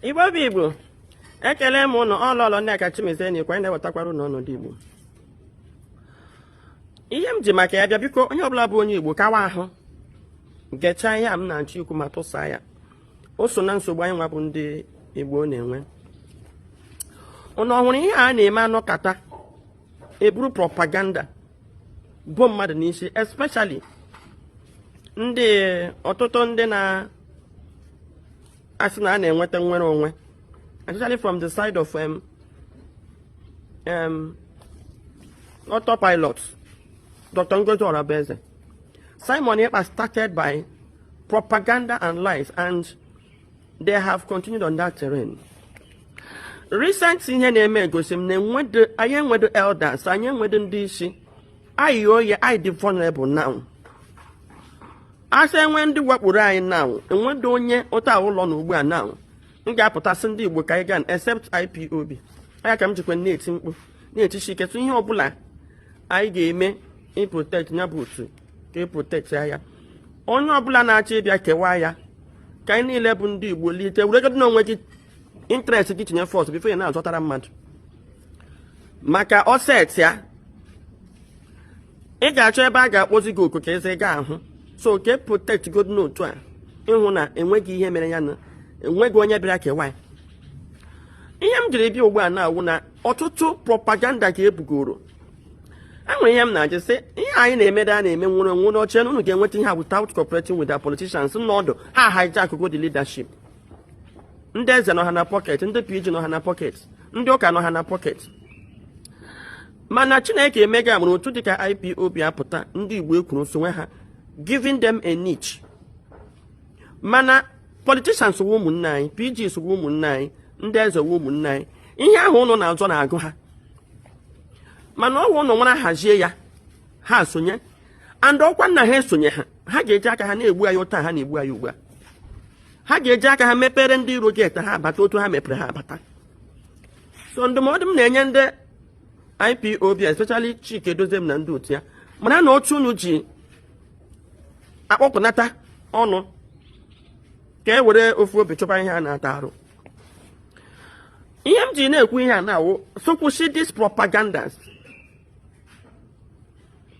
igbo bụ igbo ekele m ụnụ ọ lọlọ nneka chimezie na-ekwu na-ewetakwara ụnụ ọnọdụ igbo ihe m ji maka ya bịa biko onye ọbụla bụ onye igbo kawa ahụ gechaa ihe a m na-achọ ikwu ma tụsaa ya o so na nsogbu anyị nwa bụ ndị igbo na-enwe ụnụ ọ hụrụ ihe a na-eme a nọkata e buru propaganda bo mmadụ n'isi especially ndị ọtụtụ ndị na-asị na a na-enweta nnwere onwe especially from the side of um, um, autopilot Dr. Ngozi Orabueze Simon Ekpa started by propaganda and lies and they have continued on that terrain recent ihe na-eme egosi m na anyị enwedo elders anyị enwedo ndị isi anyị oyi anyị dị vulnerable now a sị e nwee ndị wakporo anyị now enwedo onye ụta ụlọ na ugbu a now m ga-apụta sị ndị Igbo ka anyị gaa except IPOB ọ ya ka m jikwa na-eti mkpu na-etishi ike tụ ihe ọbụla anyị ga-eme iprotect ya bụ otu ka e protectie ya onye ọbụla na-achọ ịbịa kewaa ya ka anyị niile bụ ndị Igbo lite weregodo n'onwe gị interest gị tinye first before ya na-azọtara mmadụ maka o setịa ị ga-achọ ebe a ga-akpọzi gị oku ka eze ga ahụ so ka e protectgodo otu a ịhụ na enweghị ihe mere ya na enweghị onye bịara kewa ihe m jiri bịa ugbu a na-awụ na ọtụtụ propaganda ka ebugoro enwere ihe m na-ajụ sị ihe anyị na-emede a na-eme nnwere onwe unu chere na unu ga-enweta ihe a without cooperating with the politicians n'ọdụ ha hijackgo the leadership ndị eze nọ ha na pocket ndị pg nọ ha na pocket ndị ụka nọ ha na pocket mana chineke emego amara otu dịka ipob apụta ndị igbo ekwuru sowe ha giving them a niche mana politicians wụ ụmụnne anyị pgs wụ ụmụnne anyị ndị eze wụ ụmụnne anyị ihe ahụ ụnụ na-azọ na-agụ ha mana ọ wụ ụnụ nwara hazie ya ha sonye and ọkwa na ha esonye ha ha ga-eji aka ha na-egbu anyị otu a ha na-egbu anyị ugbu a ha ga-eji aka ha mepere ndị iro gate ha abata otu ha mepere ha abata so ndụmọdụ m na-enye ndị IPOB especially Chika Edoziem na ndị otu ya mara na otu unu ji akpọkọnata ọnụ ka e were ofu obi chọba ihe a na-ata arụ ihe m ji na-ekwu ihe a na-awụ sị kwụsị these propagandas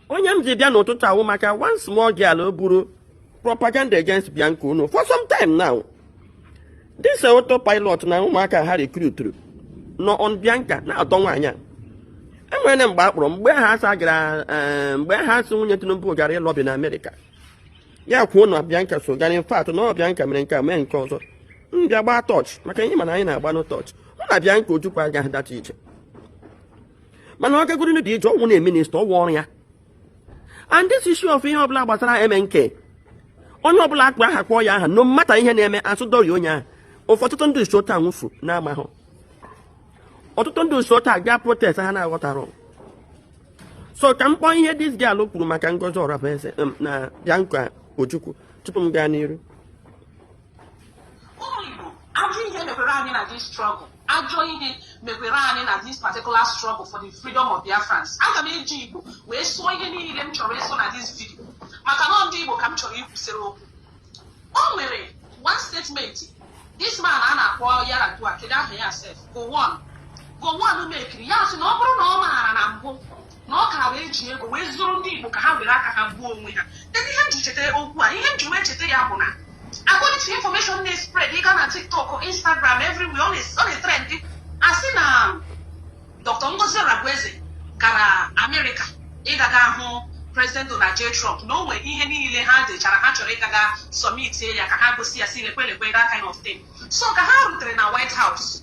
onye m ji bịa n'ụtụtụ a wụ maka one small girl o buru propaganda against Bianca Onoh for some time now this auto pilot na ụmụaka ha rekruturu nọ on Bianca na-atọ nwaanyị a e nwere na mgbe a kpọrọ mgbe ha asa gara eh, mgbe ha sị nwunye Tinubu gara ịlọbi na Amerịka ya kwuo na Bianca so gara in fact na Bianca mere nke a mee nke ọzọ m bịa gbaa torch maka ihe mana anyị na-agbanụ torch wụ na Bianca Ojukwu agaghị that ije mana ọ gagoro dị ije ọ wụ na minista ọ wụ ọrụ ya and this issue of ihe ọbụla gbasara MNK onye ọbụla akpa aha kpọọ ya aha no matter ihe na-eme asụdọri onye ahụ ọtụtụ ndị nso taa nwụfu na-amahụ ọtụtụ ndị nso taa gaa protest ha na-aghọtara so ka m kpọọ ihe this girl kwuru maka Ngozi Orabueze um, na Bianca Ojukwu tupu m gaa n'iru ụmụ Igbo ajọ ihe mekwere anyị na this struggle ajọ ihe mekwere anyị na this particular struggle for the freedom of Biafrans aga m eji Igbo wee sụọ ihe niile m chọrọ ịsụ na this video maka na ndị Igbo ka m chọrọ ikwusịrị okwu o nwere one statement this man a na-akpọ Yar'Adua kedu aha ya sef Gowon Gowon mekiri ya sị na ọ bụrụ na ọ maara na mbụ na ọ ka wee ji ego wee zụrụ ndị Igbo ka ha were aka ha gbuo onwe ha kedu ihe m ji cheta okwu a ihe m ji wee cheta ya bụ na according to information na-espread ị gaa na TikTok Instagram everywhere ọ na-etrend a sị na Dr. Ngozi Orabueze gara Amerịka ịgaga hụ President Donald J. Trump na o nwere ihe niile ha dechara ha chọrọ ịgaga submitie ya ka ha gosi ya sị lekwe lekwe that kind of thing so ka ha rutere na White House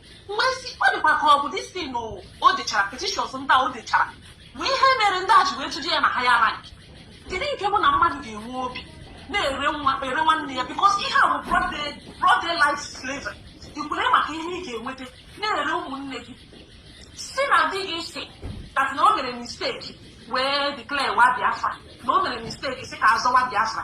wee sị ọ dịkwa ka ọ bụ distin o dechara petitions ndị o dechara bụ ihe mere ndị a ji wee tụje ya na higher rank kedu nke bụ na mmadụ ga-enwe obi na-ere nwa ere nwanne ya because ihe a bụ broad daylight slavery i kwere maka ihe ị ga-enweta na-ere ụmụnne gị sị na di gị sị that na o mere mistake wee declare war Biafra na o mere mistake sị ka a zọwa Biafra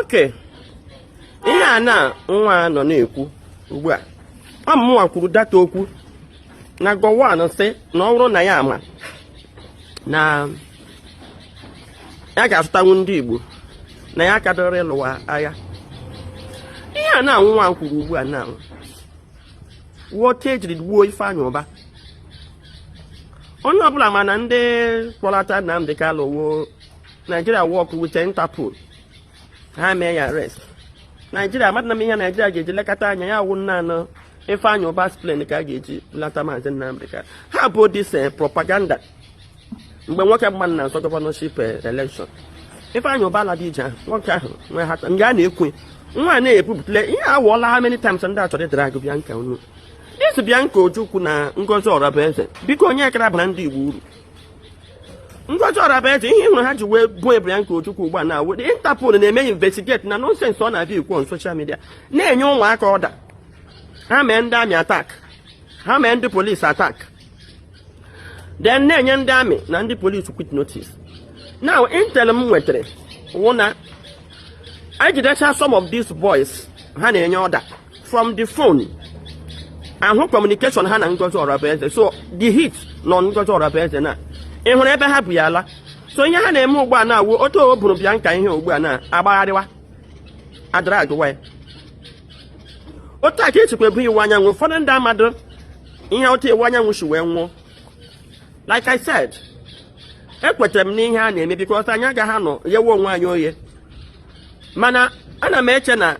okay ihe a na nwa nọ na-ekwu ugbu a ọ mụnwa kwuru that okwu na Gowon sị na ọ bụrụ na ya ama na ya ga-azụtanwu ndị Igbo na ya kadoro ịlụwa agha ihe a na nwa kwuru ugbu a na wụ ka e jiri gbuo Ifeanyị Ụba onye ọbụla ma na ndị kpọlata Nnamdi Kanu wụ Nigeria work with Interpol ha mee ya arrest Nigeria amadị na m ihe Nigeria ga-eji lekọta anya ya wụ na ọ Ifeanyị Ụba's plan ka a ga-eji lata maazị Nnamdi Kanu ha bụ this eh, propaganda mgbe nwoke m a na-azọ gọvanọship elekshọn Ifeanyi Uba ala dị ije ahụ nwoke ahụ nwe ha nga a na-ekwu nwa a na-ebupụtale ihe awụọla ha many times ndị a chọrọ ịdrag Bianca unu this Bianca Ojukwu na Ngozi Orabueze biko onye kara bara ndị Igbo uru Ngozi Orabueze ihe ị hụrụ ha ji wee buo Bianca Ojukwu ugbu a na awụ Interpol na-eme investigate na nonsens ọ na-abịa ekwu on social media na-enye ụmụaka ọda ha mee ndị amị atak ha mee ndị polisi atak then na-enye ndị amị na ndị polisi quit notice now intel m nwetara wụ na e jidecha some of these boys ha na-enye ọda from the phone a hụ kọmunikeshọn ha na Ngozi Orabueze so the heat nọ Ngozi Orabueze na ị hụrụ ebe ha bu ya ala so ihe ha na-eme ugbu a na-awụ otu e buru Bianca ihe ugbu a na-agbagharịwa adragwa ya otu a ka e jikwa buo Iwuanyanwụ ụfọdụ ndị amadị ihe otu Iwuanyanwụ si wee nwụọ like I said ekwetara m n'ihe a na-eme because anyị agaghị anọ yewe onwe anyị oye mana ana m eche na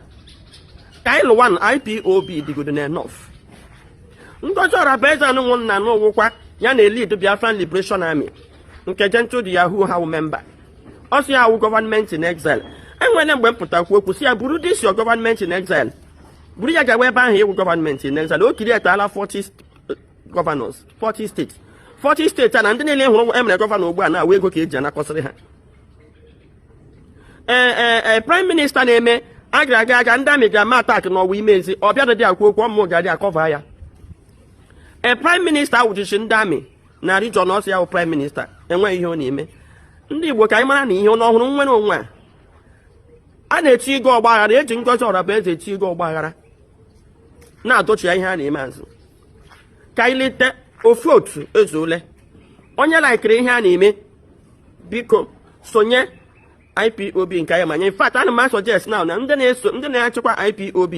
ka anyị lụwa na IPOB dịgodo na enough Ngozi Orabueze anụnwụ m na na ọ wụkwa ya na-elid Biafran Liberation Army nke Gentle the Yahoo ha wụ member ọ sị ya wụ gọọmenti in exile e nwere mgbe m pụta kwuo okwu sị ya buru this your gọọmenti in exile buru ya gawa ebe ahụ ị wụ gọọmenti in exile o createla 40 gọvanọs 40 steeti 40 steeti a na ndị niile ị hụrụ e mere gọvanọ ugbu a na-awụ ego ka e ji anakọsịrị ha ee e, e, e, praịm minista na-eme gara gara ndị amị gara mee atak n'Ọwa Imezi ọ bịara dị kwuo okwu ọmụ ga-adị akọva ya ee praịm minista wụchichi ndị amị na rijọn ọ sị ya bụ praịm minista enweghị ihe ọ na-eme ndị igbo ka anyị mara na ihe unu hụrụ nwere onye a a na-etrigger ọgba aghara e ji Ngozi Orabueze etrigger ọgba aghara na-adọchigha ihe a na-eme azụ ka anyị leta ofu otu ezuole onye laikiri ihe a na-eme biko sonye IPOB nke anyị manye in fact ana m asuggest now na ndị na-achịkwa IPOB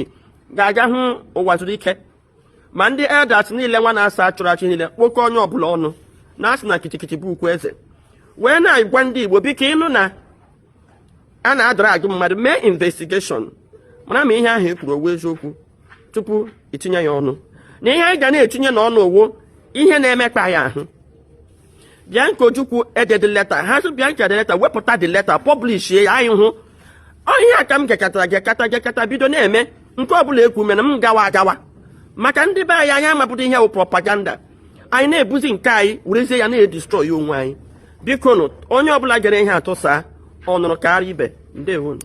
ga-aga hụ Uwazuruike ma ndị elders niile nwa na-asa a chụrụ achụ niile kpokọ onye ọbụla ọnụ na-asị na gidigidi bụ ugwu eze wee na-agwa ndị Igbo biko ị nụ na a na-adrag mmadụ mee investigeshọn mara ma ihe ahụ e kwuru ọ wụ eziokwu tupu i tinye ya ọnụ na ihe anyị ga na-etinye n'ọnụ ọ wụ ihe na-emekpa ya ahụ Bianca Ojukwu ededị leta ha sị Bianca dee leta wepụta the leta pọblish ya anyị hụ ọ ihe a ka m gekatara gekata gekata bido na-eme nke ọbụla e kwu mere m gawa agawa maka ndị be anyị anyị amapụta ihe bụ propaganda anyị na-ebuzi nke anyị werezie ya na-edistrọyi onwe anyị bikonụ onye ọbụla gere ihe a tụsaa ọ nụrụ kara ibe ndewo nụ